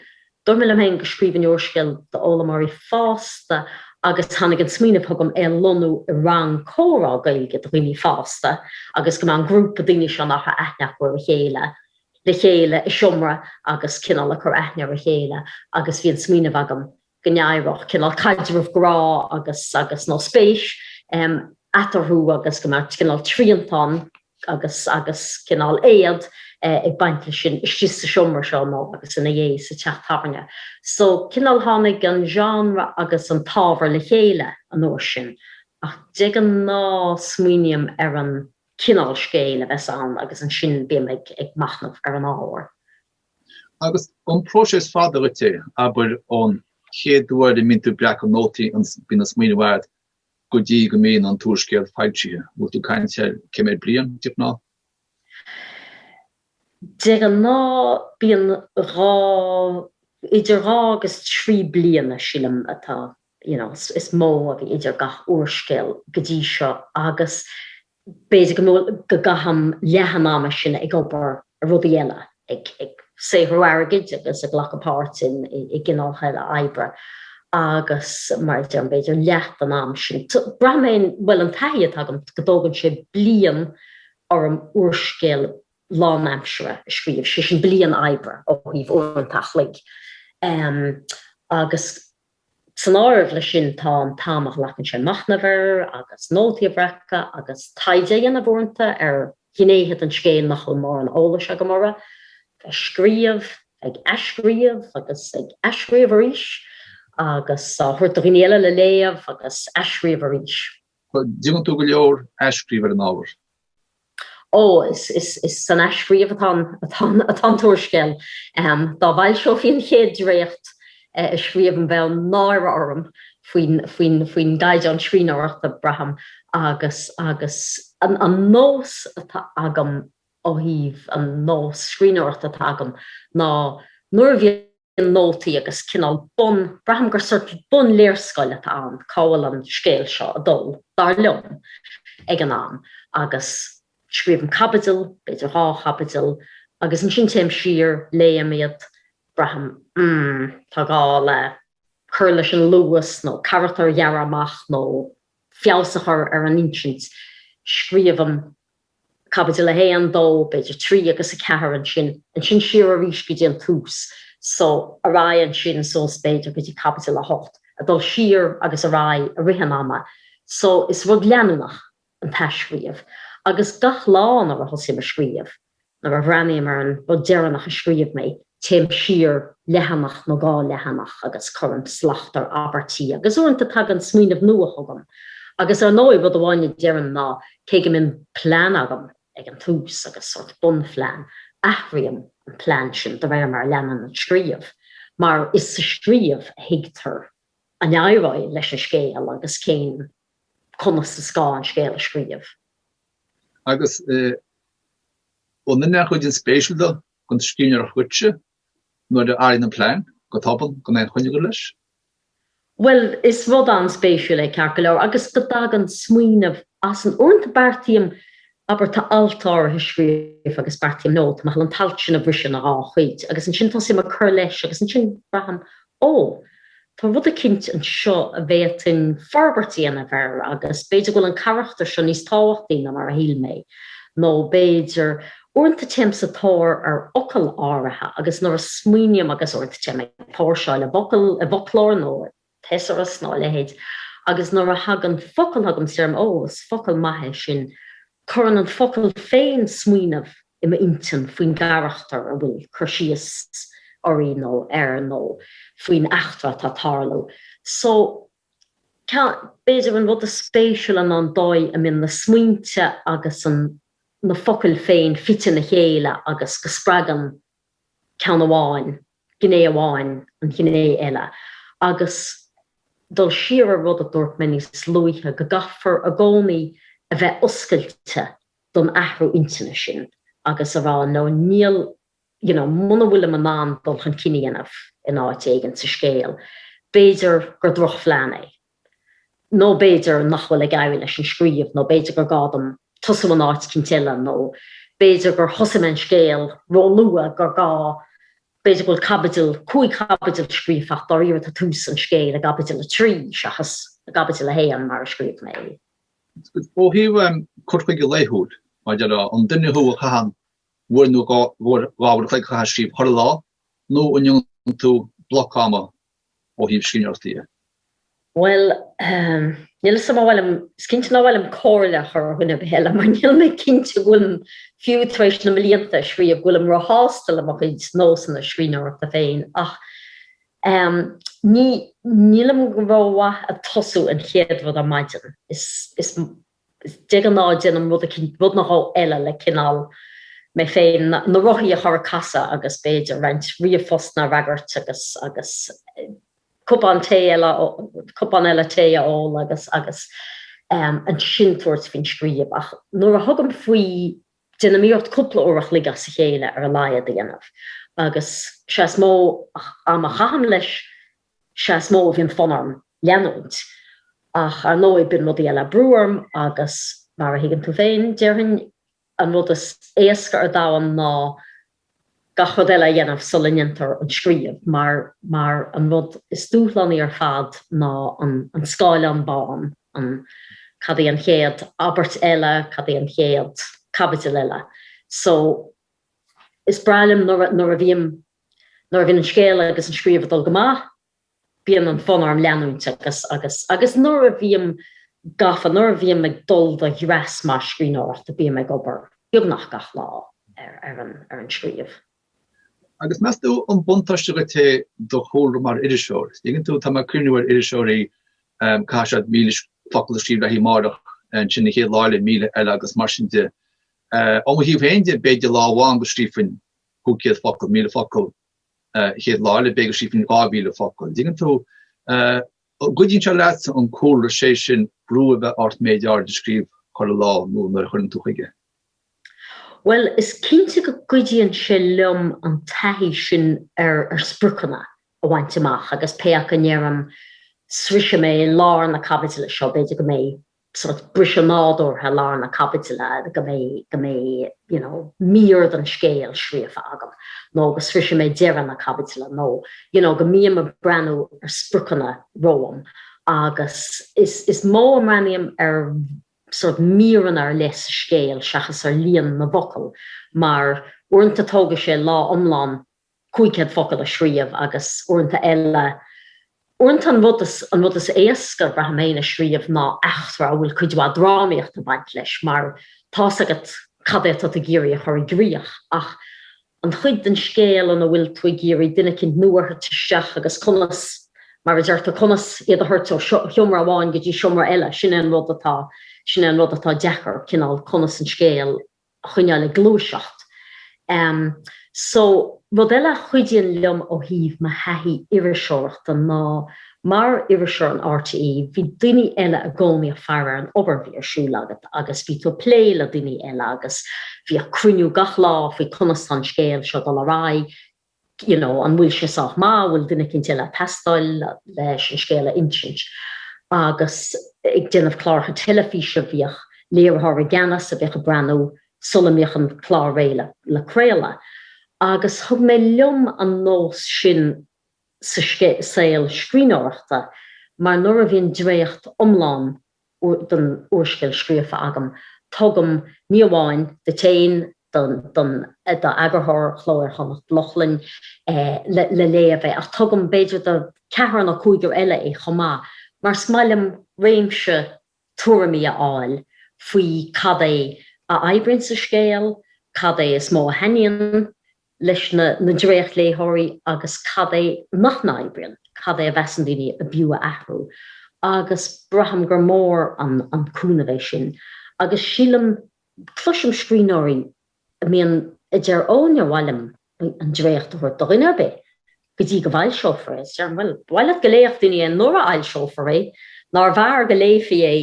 dúirt mé liom féin go scríobhfainn úrscéal d'fhoghlaimeoirí fásta agus tháinig an smaoineamh chugam é a lonnú i rang comhrá Gaeilge do dhaoine fásta agus go mbeadh an grúpa daoine seo nach raibh aithne acu ar a chéile le chéile i seomra agus cineál ag cur aithne ar a chéile agus bhí an smaoineamh agam go n-éireodh, cineál caidreamh grá agus, nó spéis, eatarthu agus go mbeadh cineál triantán agus, agus, cineál éad ag baint leis sin istigh sa seomra seo nó, agus, ina dhiaidh sa teach tábhairne. So, cineál tháinig an genre agus an t-ábhar le chéile an uair sin ach de ghnáth smaoiním ar an gcineál scéil a bheas ann agus ansin bím ag, ag machnamh ar an ábhar. Agus an próiseas fada dhuit é, abair, ón chéad uair a mbíonn tú ag breacadh nótaí, bíonn an smaoineamh agat, go dtí go mbíonn an t-úrscéal foilsithe, an bhfuil tú ag caint ar, cé mhéad bliain, de ghnáth? De ghnáth, bíonn dhá, idir dhá agus trí bliana, sílim, atá you know, is mó a bhí idir gach úrscéal go dtí seo agus b'fhéidir go gcaithim leath an ama sin ag obair ar rudaí eile, ag saothrú airgid agus ag glacadh páirte i gcineálacha eile oibre agus mar a deirim, b'fhéidir leath den am sin, braithim féin, bhuel an taithí atá agam go dtógann sé bliain orm úrscéal lánaimseartha a scríobh, sé sin bliain oibre ó thaobh uaireanta an chloig, em, agus. San áireamh leis sin tá an t-am a ghlacann sé machnamh air agus nótaí a bhreacadh agus taighde a dhéanamh uaireanta ar ghnéithe den scéal nach bhfuil mórán eolais agam orthu, ag scríobh, ag athscríobh agus ag athscríobh arís agus á thabhairt do dhaoine eile le léamh agus athscríobh arís. Déanann tú go leor athscríobh ar an ábhar. ó is san athscríobh atá an t-úrscéal. Dá bhfoilseofaí an chéad dréacht a scríobhaim bheadh náire orm faoin gcaighdeán scríbhneoireachta, braithim, agus an nós atá agam ó thaobh an nós scríbhneoireachta atá agam ná nuair a bhíonn. nótaí agus cineál bun, braithim gur sort bunléarscáil atá ann cá bhfuil an scéal seo ag dul, dar liom, ag an am, agus scríobhaim caibidil, b'fhéidir dhá chaibidil, agus ansin téim siar, léim iad, braithim, mm, tá gá le cur leis an luas nó carachtair a ghearradh amach nó feabhas a chur ar an insint, scríobhaim. Caibidil 1, 2, b'fhéidir 3 agus 4 ansin, ansin siar arís go dtí an tús, so, ar aghaidh ansin suas b'fhéidir go dtí caibidil 8, ag dul siar agus ar aghaidh i rith an ama. So, is rud leanúnach an t-athscríobh. Agus gach lá nuair a thosaím ag scríobh, nuair a bhreathnaím ar an rud deireanach a scríobh mé, téim siar leathanach nó dhá leathanach agus cuirim slacht ar abairtí agus uaireanta tagann smaoineamh nua chugam agus ar ndóigh rud amháin a deirim ná cé go mbíonn plean agam ag an tús agus sórt bunphlean, athraím an plean sin de réir mar a leanann an scríobh mar is sa scríobh a thuigtear an éireoidh leis an scéal agus cén conas is gá an scéal a scríobh. Agus ab in an chuid inspéisiúil do. don scríbhneoir, dhuitse, nuair a athraíonn an plean, go tobann, gan aon choinne agat leis. Bhuel, is rud an-spéisiúil é, ceart go leor, agus go dtagann smaoineamh as an, uaireanta beartaím, abair, tá alt áirithe scríofa agus beartaím no, tá mé ag gabháil an t-alt sin a bhriseadh ina dhá chuid agus ansin tosaím ag cur leis agus ansin braithim Ó, tá rud eicínt anseo a bhféadfainn forbairt a dhéanamh air agus b'fhéidir go bhfuil an carachtar seo níos tábhachtaí ná mar a shíl mé. Nó b'fhéidir, uaireanta téim sa tóir ar fhocail áirithe agus nuair a smaoiním agus uaireanta téim ag póirseáil i bhfocail, i bhfoclóir nó i thesaurus nó a leithéid agus nuair a thagann focal chugam is deirim, ó, is focal maith é sin. Cuireann an focal féin smaoineamh i m'intinn faoin gcarachtar a bhfuil cur síos uirthi nó air nó faoin eachtra atá ag tarlú. So, b'fhéidir an rud is spéisiúla ná an dóigh a mbíonn na smaointe agus an, na focail féin fite ina chéile agus go spreagann ceann amháin, gné amháin, an ghné eile, agus dul siar ar rud a dúirt mé níos luaithe, go gcaithfear i gcónaí a bheith oscailte don athrú intinne sin agus a rá, no, níl, you know, muna bhfuilim in ann dul chun cinn a dhéanamh in áit éigin sa scéal, b'fhéidir gur drochphlean é. nó b'fhéidir nach bhfuil ag éirí leis an scríobh, nó b'fhéidir gur gá dom tosú in áit éicint eile, nó b'fhéidir gur thosaigh mé an scéal róluath, gur gá, b'fhéidir go bhfuil caibidil, cúig chaibidil scríofa ach dáiríre tá tús an scéil i gcaibidil a trí seachas i gcaibidil a haon mar a scríobh mé é. Ó thaobh cur chuige laethúil, meas tú an duine thú a chaitheann uair nó dhá uair an chloig a chaitheamh ag scríobh chuile lá, nó an ndéanann tú bloc ama ó thaobh scríbhneoireachta dhe. Bhuel, níl 'fhios a'm an bhfuil, is cinnte nach bhfuilim comhairle a chur ar dhuine ar bith eile mar níl mé cinnte go bhfuilim, fiú tar éis na mblianta ag scríobh, go bhfuilim róshásta le mo chuid nósanna scríbhneoireachta féin ach ehm, ní, nílim go rómhaith ag tosú an chéad rud ar maidin, is, is. De ghnáth déanaim rud nó dhó eile le cineál mé féin, na rothaí a chur ag casadh agus b'fhéidir roinnt ríomhphostanna a fhreagairt agus, agus cupán tae eile, cupán eile tae a ól agus, agus ehm, ansin tabhairt faoin scríobh. Ach nuair a thugaim faoi, déanaim iarracht cúpla uair a chloig as a chéile ar a laghad a dhéanamh agus is ea is mó ama a chaithim leis Sea, is mó a bhíonn fonn orm leanúint, ach ar ndóigh, bíonn rudaí eile ag brú orm agus, mar a thuigeann tú féin, déarfainn, an rud is éasca ar domhan ná gach rud eile a dhéanamh sula ndéantar an scríobh, mar, mar, an rud is dúshlánaí ar fad ná an, an scáileán bán, an, cad é an chéad abairt eile, cad é an chéad chaibidil eile. So, is breá liom nuair a, nuair a bhím Nuair a bhíonn an scéal agus an scríobh ag dul go maith, bíonn an fonn orm leanúint agus agus agus nuair a bhím gafa, nuair a bhím ag dul do dhreas maith scríbhneoireachta, bím ag obair beagnach gach lá ar ar an scríobh. Agus meas tú an buntáiste dhuit é do chúlra mar iriseoir? Tuigeann tú, tá mé ag cuimhniú ar iriseoirí um, caithfidh siad míle focal a scríobh le haghaidh amárach ansin an chéad lá eile míle eile agus mar sin de. Uh, ó mo thaobh féin de b'fhéidir lá amháin go scríobhainn 500 focal, 1,000 focal chéad lá eile b'fhéidir go scríobhfainn 2,000 focal. Dtuigeann tú? An gcuidíonn sé leat an cúlra, sé sin, brú a bheith ort méid áirid a scríobh chuile lá nó nuair a chuireann tú chuige. Bhuel, is cinnte go gcuidíonn sé liom an taithí sin ar spriocanna a bhaint amach agus pé acu a ndeirim sroisfidh mé lár na caibidile seo, b'fhéidir go mbeidh sórt briseadh nádúrtha i lár na caibidile go mbeidh, go mbeidh, you know, mír den scéal scríofa agam nó go sroisfidh mé deireadh na caibidile nó, you know, go mbím ag breathnú ar spriocanna romham agus is, is mó a mbreathnaím ar sórt míreanna ar leith sa scéal seachas ar líon na bhfocal mar uaireanta tógfaidh sé lá iomlán 500 focal a scríobh agus uaireanta eile, uaireanta an rud is, an rud is éasca, braithim féin, a scríobh ná eachtra a bhfuil cuid mhaith drámaíocht ag baint leis mar tá's agat cad é atá tú ag iarraidh a chur i gcrích ach an chuid den scéal ina bhfuil tú ag iarraidh duine eicínt nua a thabhairt isteach agus conas, mar a deirtear, conas iad a thabhairt ó sheomra amháin go dtí seomra eile, sin é an rud atá, sin é an rud atá deacair, cineál conas an scéal a choinneáil ag gluaiseacht. So, rud eile a chuidíonn liom ó thaobh mo thaithí iriseoireachta ná mar iriseoir in RTÉ, bhí daoine eile i gcónaí ag faire ar an obair a bhí ar siúl agat agus bhí tú ag plé le daoine eile agus bhíodh cruinniú gach lá faoi conas tá an scéal seo ag dul ar aghaidh, you know, an bhfuil sé sách maith, an bhfuil duine eicínt eile a' teastáil leis an scéal a insint. Agus ag déanamh cláracha teilifíse bhíodh léiritheoir i gceannas a bhíodh a' breathnú sula mbíodh an clár réidh le, le craoladh. Agus thug mé liom an nós sin sa saol scríbhneoireachta mar nuair a bhíonn dréacht iomlán, den úrscéal scríofa agam, tugaim ní amháin duit féin, don eagarthóir, Cló Iar-Chonnacht, Lochlainn, le léamh é, ach tugaim, b'fhéidir, do cheathrar nó cúigear eile é chomh maith, mar is maith liom réimse tuairimí a fháil faoi cad é a oibríonn sa scéal, cad é is mó a thaitníonn leis na dréachtléitheoirí agus cad é nach n-oibríonn, cad é a mheasann daoine ab fhiú a athrú, agus braithim gur mór an cúnamh é sin. Agus sílim, cloisim scríbhneoirí a mbíonn a deir 'Ó, níor mhaith liom an dréacht a thabhairt do dhuine ar bith, go dtí go bhfoilseofar é, is, bhuel, ba mhaith leat go léifeadh daoine é nuair a fhoilseofar é, nár bhfearr go léifí é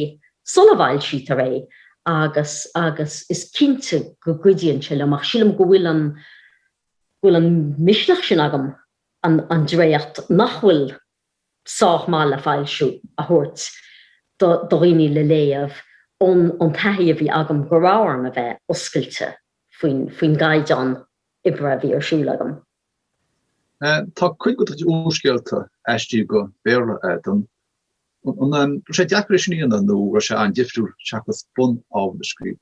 sula bhfoilsítear é agus agus is cinnte go gcuidíonn sé liom ach sílim go bhfuil an go bhfuil an misneach sin agam an an dréacht nach bhfuil sách maith le foilsiú a thabhairt do do dhaoine le léamh ón ón taithí a bhí agam go raibh orm a bheith oscailte faoin faoin gcaighdeán oibre a bhí ar siúl agam. Tá cuid de na húrscéalta aistrithe go Béarla agat. An raibh sé deacair é sin a dhéanamh nó raibh sé an-difriúil seachas bun-ábhar a scríobh?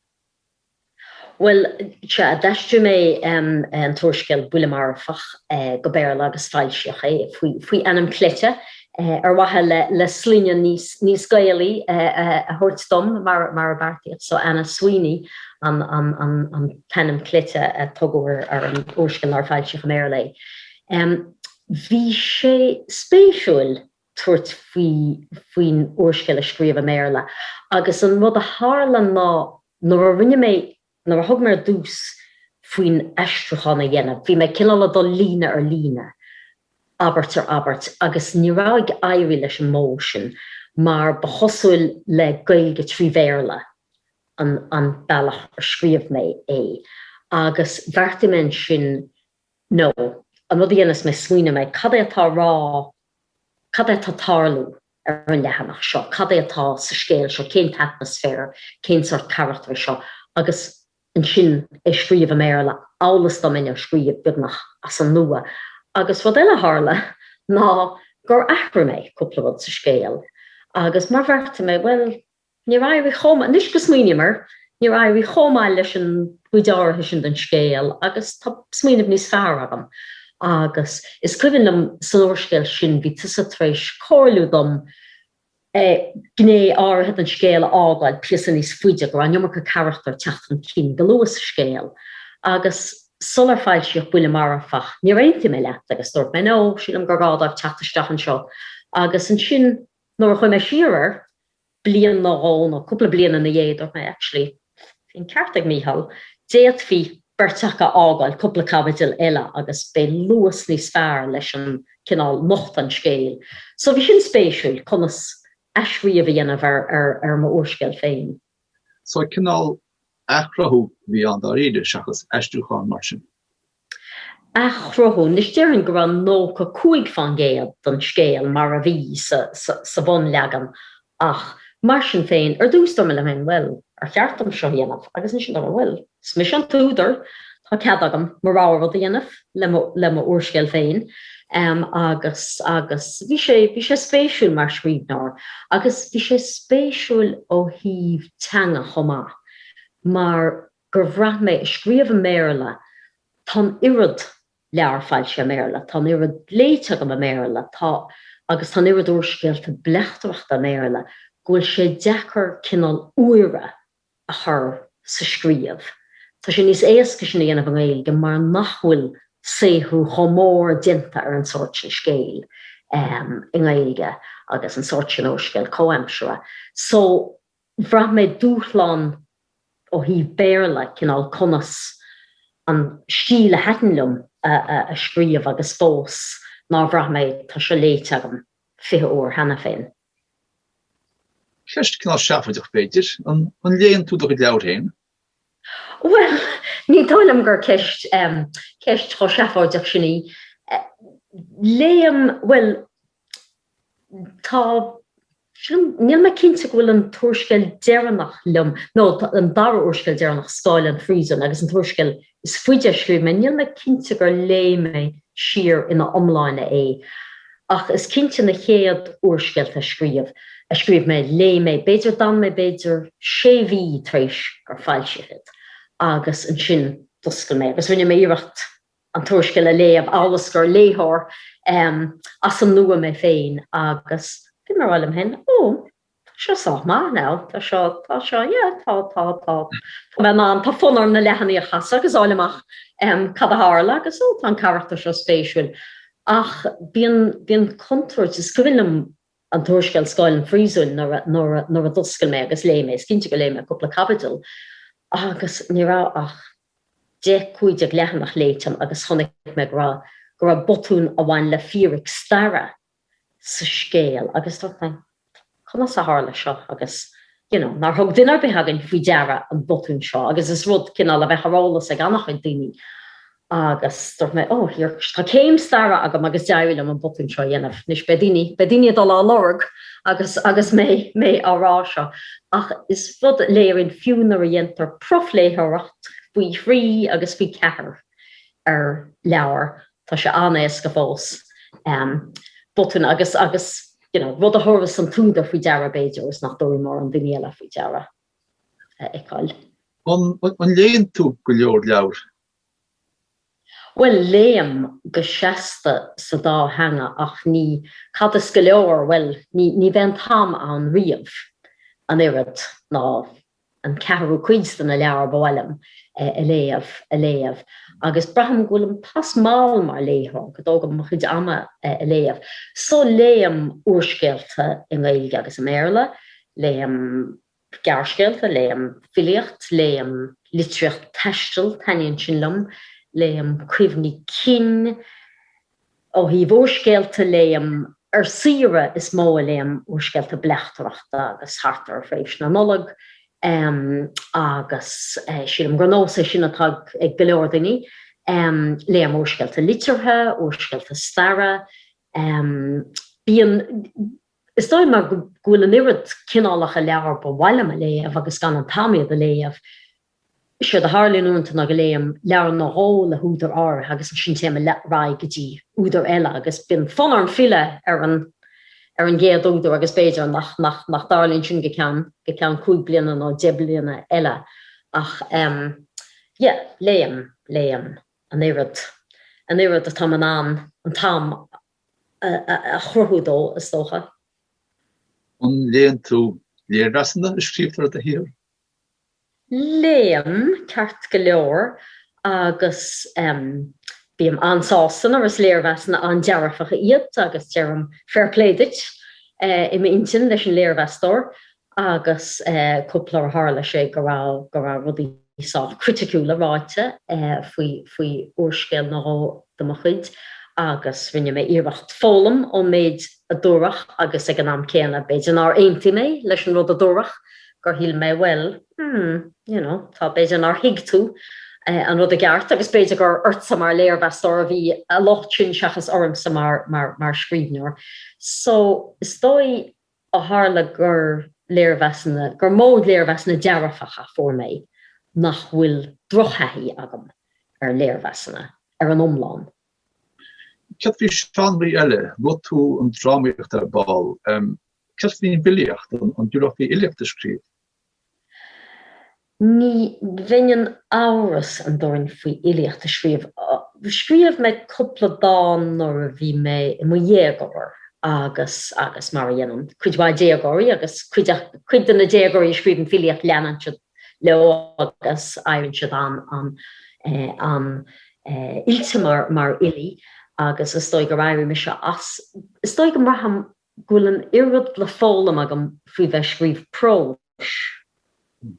Bhuel, sea, d'aistrigh mé an t-úrscéal Buille Marfach go Béarla agus foilsíodh é faoi ainm cleite ar mhaithe le sloinne níos Gaelaí a thabhairt dom, mar a beartaíodh. So, Anna Sweeney an. t-ainm cleite a tugadh ar an úrscéal nuair a foilsíodh i mBéarla é. Bhí sé spéisiúil tabhairt faoi faoin úrscéal a scríobh i mBéarla agus an rud a tharla ná nuair a rinne mé, nuair a thug mé ar dtús faoin aistriúchán a dhéanamh, bhí mé cineál ag dul líne ar líne, abairt ar abairt agus ní raibh ag éirí leis an modh sin mar ba chosúil le Gaeilge trí Bhéarla an bealach ar scríobh mé é agus bheartaigh mé ansin nó an rud a dhéanfas mé smaoineoidh mé cad é atá rá cad é atá tarlú ar an leathanach seo, cad é atá sa scéal seo, cén t-atmaisféar, cén sórt carachtar é seo agus ansin é scríobh i mBéarla amhail is dá mbeinn á scríobh beagnach as an nua. Agus rud eile a tharla ná gur athraigh mé cúpla rud sa scéal agus mar bheartaigh mé bhuel, Níor éirigh chomh maith, anois go smaoiním air, níor éirigh chomh maith leis an gcuid áirithe sin den scéal agus tá smaoineamh níos fearr agam. Agus is cuimhin liom san úrscéal sin, bhí tusa tar éis comhairliú dom gné áirithe den scéal a fhágáil píosa níos faide, go raibh an iomarca carachtar ag teacht chun cinn go luath sa scéal. Agus sular foilsíodh Buille Marfach, níor aontaigh mé leat agus dúirt mé, no, sílim gur gá dóibh teacht isteach anseo. Agus ansin, Nuair a chuaigh mé siar air, bliain nó dhó, nó cúpla bliain ina dhiaidh, dúirt mé, actually, bhí an ceart ag Mícheál, d'fhéadfaí beirt acu a fhágáil cúpla caibidil eile agus beidh luas níos fearr leis an, cineál, nochtadh an scéil. So bhí sin spéisiúil, conas athscríobh a dhéanamh ar ar mo úrscéal féin. So, cineál, athchruthú a bhí ann dáiríre, seachas aistriúchán mar sin. athchruthú. Anois déarfainn go raibh 95 faoin gcéad den scéal mar a bhí sa bhunleagan ach mar sin féin, ar dtús dúirt mé liom féin bhuel, ar cheart dom seo a dhéanamh agus ansin dúirt mé bhuel, is mise an t-údar, tá cead agam mo rogha rud a dhéanamh le mo úrscéal féin agus, agus bhí sé, bhí sé spéisiúil mar scríbhneoir agus bhí sé spéisiúil ó thaobh teanga chomh maith mar. gur bhraith mé, ag scríobh i mBéarla, tá an oiread leabhar foilsithe i mBéarla, tá an oiread léite agam i mBéarla, tá. agus tá an oiread úrscéalta bleachtaireachta i mBéarla, go bhfuil sé deacair cineál úire a chur sa scríobh. Tá sé níos éasca sin a dhéanamh i nGaeilge mar nach bhfuil saothrú chomh mór déanta ar an sórt sin scéil i nGaeilge agus an sórt sin úrscéal comhaimseartha. So. Bhraith mé dúshlán ó thaobh Béarla, cineál conas an stíl a thaitin liom a scríobh agus fós nár bhraith mé tá seo léite agam fiche uair cheana féin. Ceist cineál seafóideach b'fhéidir, an léann tú do chuid leabhair féin? Bhuel, ní dóigh liom gur ceist chomh seafóideach sin í. Léim, bhuel, tá, sin, níl mé cinnte go bhfuil an t-úrscéal deireanach liom, nó an dara úrscéal deireanach, Scáil an Phríosúin, agus an t-úrscéal is faide a scríobh mé, níl mé cinnte gur léigh mé siar ina iomláine é, ach is cinnte na chéad úrscéalta a scríobh, a scríobh mé, léigh mé, b'fhéidir, d'fhan mé, b'fhéidir, sé mhí tar éis gur foilsíodh iad, agus ansin d'oscail mé, agus rinne mé iarracht, an t-úrscéal a léamh amhail is gur léitheoir as an nua mé féin agus bhí mé ag rá liom féin, oh, tá seo sách maith, now, tá seo, tá seo, yeah, tá, tá, tá, tá mé in ann, tá fonn orm na leathanaigh a chasadh agus a fháil amach cad a tharla agus oh, tá an carachtar seo spéisiúil. Ach bíonn, bíonn contúirt, is cuimhin liom an t-úrscéal Scáil an Phríosúin nuair a, nuair a, nuair a d'oscail mé agus léigh mé, is cinnte gur léigh mé cúpla caibidil agus ní raibh ach, 10, 15 leathanach léite agam agus chonnaic mé go raibh go raibh botún a bhain le fíric staire sa scéal agus dúirt mé conas a tharla seo agus you know nár thug duine ar bith againn faoi deara an botún seo agus is rud cineál a bheadh ar eolas ag an-chuid daoine agus dúirt mé oh here tá céim staire agam agus d'éirigh liom an botún seo a dhéanamh anois beidh daoine beidh daoine ag dul dá lorg Agus agus mé mé á rá seo, ach is rud a léiríonn fiú nuair a dhéantar profléitheoireacht faoi thrí agus faoi cheathair ar leabhar, tá sé an-éasca fós botún agus agus you know rud a thabharfas an t-údar faoi deara b'fhéidir agus nach dtabharfaidh mórán daoine eile faoi deara a fheiceáil. An léann tú go leor leabhar? Bhuel, léim go seasta sa dá theanga ach ní, cad is go leor, bhuel, ní, ní bhíonn an t-am ann riamh, an oiread, ná an ceathrú cuid de na leabhair ba mhaith liom a léamh, a léamh. Agus braithim go bhfuilim pas mall mar léitheoir, go dtógaim mo chuid ama ag léamh. So, léim úrscéalta i nGaeilge agus i mBéarla, léim. Gearrscéalta Léim filíocht Léim litríocht taistil Taitníonn sin liom Léim cuimhní cinn ó thaobh úrscéalta Léim ar saoire Is mó a léim úrscéalta bleachtaireachta agus thart ar thréimhse na Nollag agus sílim gur nós é sin atá ag go leor daoine Léim úrscéalta liteartha, úrscéalta staire Bíonn. Is dóigh mar go bhfuil an oiread cineálacha leabhar ba mhaith liom a léamh agus gan an t-am iad a léamh. Séard a tharlaíonn uaireanta ná go léim leabhar nó dhó le húdar áirithe agus ansin téim ar aghaidh go dtí údar eile agus bíonn fonn orm filleadh ar an ar an gcéad údar agus b'fhéidir nach nach nach dtarlaíonn sin go ceann go ceann cúig bliana nó deich bliana eile ach em yeah léim léim an oiread an oiread atáim in ann an t-am a a chruthú dó, is dócha. An léann tú léirmheasanna a scríobhtar faoi do shaothar? Léim, ceart go leor, agus bím an-sásta nuair is léirmheasanna an-dearfacha iad agus deirim 'fair play duit' i m'intinn leis an léirmheastóir. agus cúpla uair tharla sé go raibh go raibh rudaí sách criticiúla ráite faoi faoi úrscéal nó dhó de mo chuid agus rinne mé iarracht foghlaim ón méid a dúradh agus ag an am céanna b'fhéidir nár aontaigh mé leis an rud a dúradh, gur shíl mé bhuel hmm you know tá b'fhéidir nár thuig tú an rud i gceart agus b'fhéidir gur ortsa mar léirmheastóir a bhí a locht sin seachas ormsa mar mar mar scríbhneoir so is dóigh Ó tharla gur léirmheasanna, gur mó léirmheasanna dearfacha a fuair mé, nach bhfuil drochthaithí agam ar léirmheasanna, ar an iomlán. Céard faoi sheánraí eile, luaigh tú an drámaíocht ar ball, céard faoin bhfilíocht, an dtabharfá faoi fhilíocht a scríobh? Ní bheinn, tá amhras an domhain orm faoi fhilíocht a scríobh. Scríobh mé cúpla dán nuair a bhí mé i mo dhéagóir agus agus mar a dhéanann cuid mhaith déagóirí agus cuid de na déagóirí a scríobhann filíocht leanann siad leo agus éiríonn siad an-oilte mar fhilí agus is dóigh gur éirigh mise as. Is dóigh go mbraithim go bhfuil an oiread le foghlaim agam faoi bheith ag scríobh próis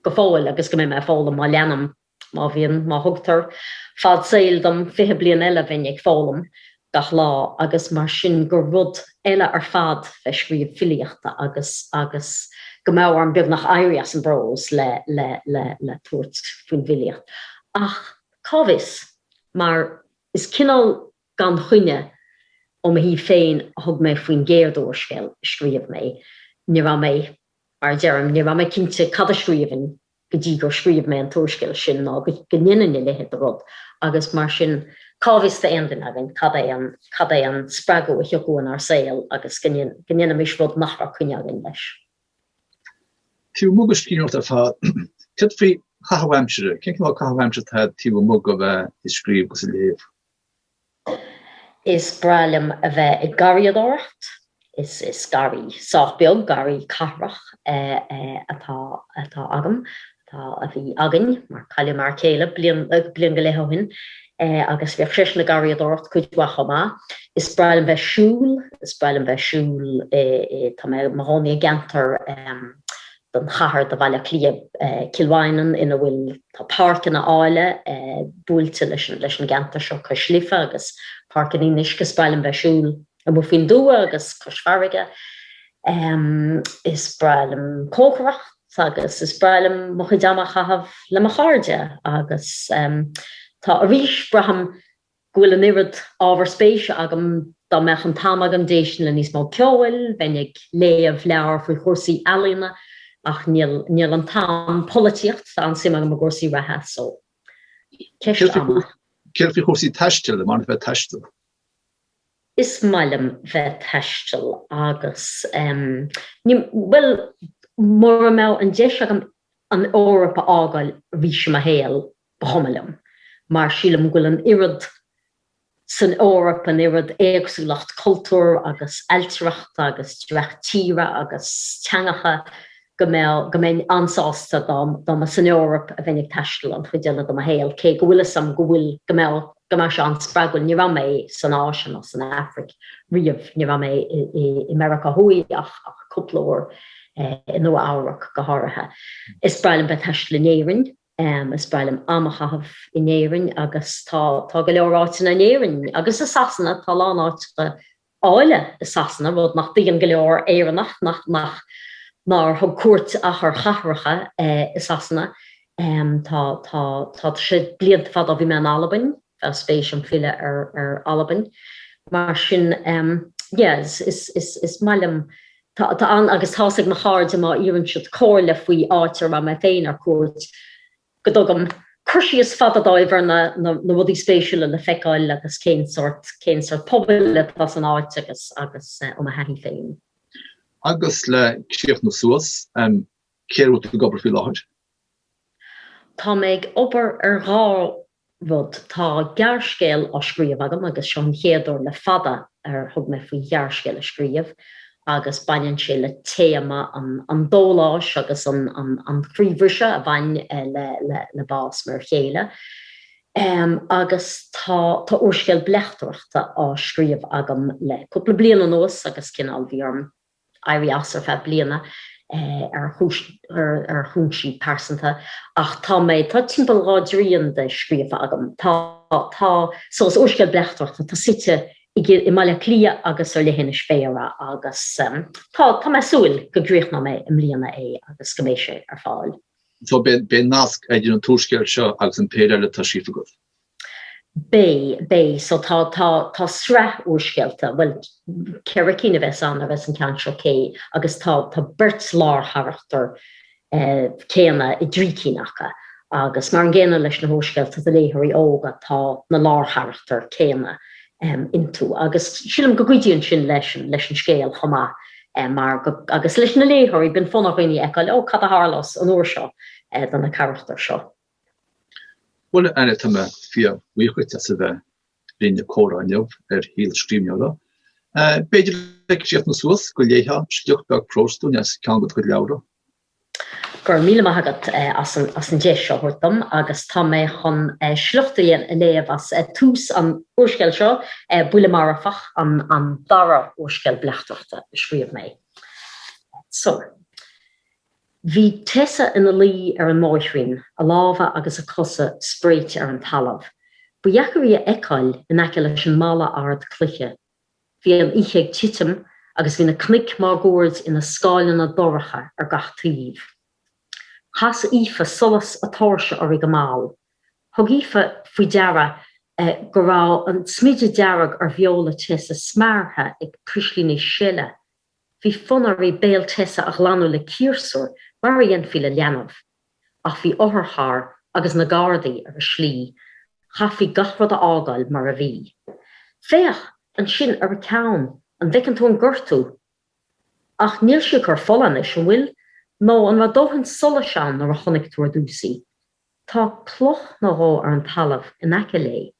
go fóill agus go mbeidh mé ag foghlaim má leanaim, má bhíonn, má thugtar fad saoil dom fiche bliain eile bheinn ag foghlaim gach lá agus mar sin gur rud eile ar fad bheith scríobh filíochta agus agus go mbeadh orm beagnach éirí as an bprós le le tabhairt faoin bhfilíocht ach cá bhfios mar is cineál Gan choinne, ó mo thaobh féin, a thug mé faoin gcéad úrscéal a scríobh mé. Ní raibh mé, mar a deirim, ní raibh mé cinnte cad a scríobhfainn go dtí gur scríobh mé an t-úrscéal sin, ná go ndéanfainn a leithéid de rud, agus mar sin, cá bhfios d'aon duine againn cad é an, cad é an spreagadh a thiocfadh inár saol agus go, go ndéanfaimis rud nach raibh coinne againn leis? Taobh amuigh de scríbhneoireacht ar fad, céard faoi chaitheamh aimsire, cén cineál caitheamh aimsire atá taobh amuigh de bheith ag scríobh agus ag léamh? Is breá liom a bheith ag garraíodóireacht. Is garraí sách beag, garraí cathrach, atá atá agam, atá a bhí againn, mar cailleadh m'fhear céile bliain bliain go leith ó shin, agus bhíodh seisean ag garraíodóireacht cuid mhaith chomh maith. Is breá liom bheith siúl, is breá liom bheith siúl i, tá mé i mo chónaí i gceantar, den chathair, de Bhaile Átha Cliath, Cill Mhaighneann, ina bhfuil, tá páirceanna áille buailte leis an gceantar seo, Cois Life agus Páirc an Fhionnuisce, is breá liom bheith ag siúl amuigh faoin dtuath, agus Cois Farraige, is breá liom cócaireacht agus is breá liom mo chuid ama a chaitheamh le mo chairde, agus tá arís, braithim, go bhfuil an oiread ábhar spéise agam, dá mbeadh an t-am agam, d'éistfinn le níos mó ceoil, bheinn ag léamh leabhar faoi chúrsaí ealaíne, ach níl, níl an t-am, polaitíocht, tá an-suim agam i gcúrsaí reatha, so ceist ama. Céard faoi chúrsaí taistil, an maith leat bheith ag taisteal? Is maith liom bheith ag taisteal agus em. ní, bhuel, mura mbeadh an deis agam an Eoraip a fhágáil arís i mo shaol, Ba chuma liom, mar sílim go bhfuil an oiread san Eoraip, an oiread éagsúlacht cultúir agus ailtireachta agus dreach tíre agus teangacha go mbeadh, go mbeinn an-sásta dá, dá mba san Eoraip a bheinn ag taisteal an chuid eile de mo shaol, cé go bhfuil 'fhios a'm go bhfuil, go mbeadh, go mbeadh sé an-spreagúil. Ní raibh mé san Áise ná san Afraic riamh, ní raibh mé i Meiriceá Thuaidh ach, ach cúpla uair, i Nua Eabhrac go háirithe. Is breá liom bheith ag taisteal in Éirinn. Is breá liom am a chaitheamh in Éirinn agus tá tá go leor áiteanna in Éirinn agus i Sasana, tá a lán áiteacha áille i Sasana, rud nach dtuigeann go leor Éireannaigh nach nach nár thug cuairt ach ar chathracha i Sasana. Tá tá tá sé blianta fada ó bhí mé in Albain. spéis agam filleadh ar Albain, mar sin yeah, is maith liom, tá ann agus tá's ag mo chairde má iarrann siad comhairle faoi áit a raibh mé féin ar cuairt, go dtugaim cur síos fada dóibh ar na rudaí spéisiúla le feiceáil agus cén sort, cén sort pobail atá san áit agus ó mo thaithí féin. Agus le críochnú suas, cé air a bhfuil tú ag obair faoi láthair? Tá mé ag obair ar dhá rud. Tá gearrscéal á scríobh agam agus seo an chéad uair le fada ar thug mé faoi ghearrscéal a scríobh agus baineann sé le téama an dóláis agus an chroíbhriste a bhain le bás m'fhear chéile agus tá úrscéal bleachtaireachta á scríobh agam le cúpla bliain anuas agus cineál bhí orm éirí as ar feadh bliana ar chúinsí pearsanta ach tá mé, tá timpeall dhá dtrian de scríofa agam. Tá, tá, so úrscéal bleachtaireachta, atá suite i mBaile Átha Cliath agus ar leithinis Bhéara agus tá, tá mé súil go gcríochnóidh mé i mbliana é agus go mbeidh sé ar fáil. So beidh nasc idir an t-úrscéal seo agus an péire eile atá scríofa agat? Beidh, beidh. So tá, tá, tá sraith úrscéalta, bhuel, ceithre cinn a bheas ann, a bheas an ceann seo réidh agus tá, tá beirt lárcharachtar céanna i dtrí cinn acu agus mar an gcéanna leis na húrscéalta do léitheoirí óga, tá na lárcharachtair céanna iontu agus sílim go gcuidíonn sin leis an, leis an scéal chomh maith mar, agus leis na léitheoirí, bíonn fonn ar dhaoine a fheiceáil, ó, cad a tharlós an uair seo do na carachtair seo. Bhuel, Anna, tá mé fíor bhuíoch duit as a bheith linn ag comhrá inniu ar shaol scríbhneora. B'fhéidir le críochnú suas, an léifeá sliocht beag próis dúinn as ceann de do chuid leabhra? Go raibh míle maith agat as an deis seo a thabhairt dom agus tá mé chun sliocht a léamh as tús an úrscéil seo, Buille Marfach, an dara úrscéal bleachtaireachta a scríobh mé. Bhí Tessa ina luí ar an mbóithrín, a lámha agus a cosa spréite ar an talamh. Ba dheacair í a fheiceáil in aice leis an mballa ard cloiche. Bhí an oíche ag titim agus bhí na cnoic máguaird ina scáileanna dorcha ar gach taobh. Chas Aoife solas a tóirse uirthi go mall. Thug Aoife faoi deara go raibh an smideadh dearg ar bheola Tessa smeartha ag prislíní seile Bhí fonn uirthi béal Tessa a ghlanadh le ciarsúr mar a dhéanfaí le leanbh. Ach bhí otharcharr agus na Gardaí ar a slí, chaithfí gach rud a fhágáil mar a bhí. 'Féach ansin ar a ceann, an bhfeiceann tú an gortú? Ach níl sí ag cur fola anois, an bhfuil? Nó an raibh dóthain solais ann nuair a chonaic tú ar dtús í? Tá cloch nó dhó ar an talamh in aice léi.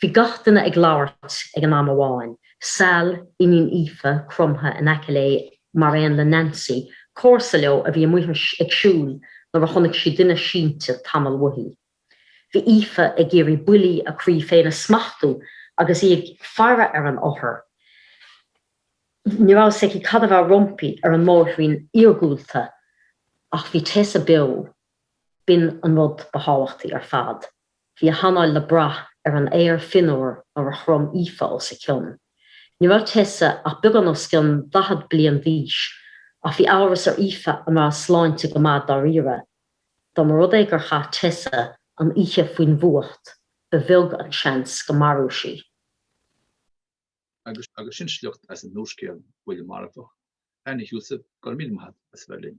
Bhí gach duine ag labhairt ag an am amháin, Sal, iníon Aoife, cromtha in aice léi mar aon le Nancy, comharsa leo a bhí amuigh ag siúl nuair a chonaic sí duine sínte tamall uaithi. Bhí Aoife ag iarraidh buillí a croí féin a smachtú agus í ag faire ar an othar. Ní raibh fhios aici cad a bheadh roimpi ar an mbóithrín iargúlta ach bhí Tessa beo. B'in an rud ba thábhachtaí ar fad. Bhí a hanáil le brath ar an aer fionnuar nuair a chrom Aoife os a cionn. Ní raibh Tessa ach beagán os cionn daichead bliain d'aois, ach bhí amhras ar Aoife an raibh a sláinte go maith dáiríre. Dá mba rud é gur chaith Tessa an oíche faoin bhfuacht, ba bheag an seans go mairfeadh sí. Agus sin sliocht as an úrscéal Buille Marfach, Anna Heussaff, go raibh míle maith agat as bheith linn.